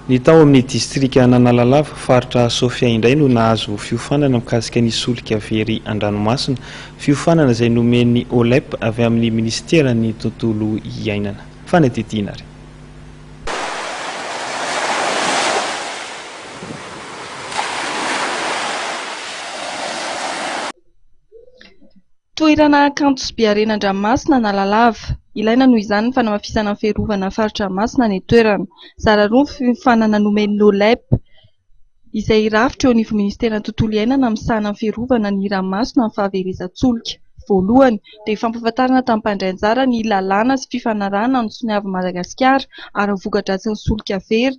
Ny tao amin'ny distrikan'Analalava, faritra Sofia indray no nahazo fiofanana mikasika ny solika very an-dranomasina, fiofanana izay nomen'ny OLEP avy amin'ny minisiteran'ny tontolo iainana. Fanadihadiana ary. Toerana kanto sy be harena an-dranomasina Analalava. Ilaina noho izany ny fanamafisana ny fiarovana ny fari-dranomasina any an-toerana. Zara roa ny fiofanana nomen'ny NOLEP, izay hirafitra eo anivon'ny Ministeran'ny Tontolo iainana misahana ny fiarovana ny ranomasina amin'ny fahaverezan-tsolika. Voalohany, dia fampahafantarana tamin'ny mpandray anjara ny lalàna sy fifanarahana nisoniavin'i Madagasikara ara-vokadratsin'ny solika very,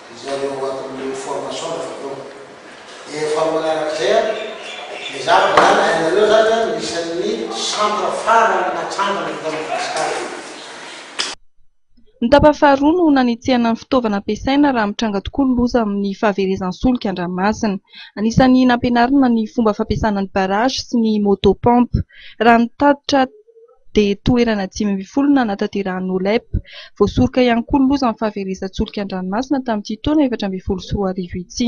izay eo anatin'ireo formation efa teo dia efa manarak'izay an ny zavatra izany hainareo izany an ny isan'ny centre farany natsangana eto Madagasikara io. Ny tapany faharoa no nanetsehana ny fitaovana ampiasaina raha mitranga tokoa ny loza amin'ny fahaverezan'ny solika an-dranomasina. Anisan'ny nampianarina ny fomba fampiasana ny barrage sy ny moto pompe. Raha ny tatitra. dia toerana dimy ambin'ny folo nanatanterahana Olep. Voasoroka ihany koa ny loza amin'ny fahaverezan-tsolika an-dranomasina tamin'ity taona efatra ambin'ny folo sy roa arivo ity.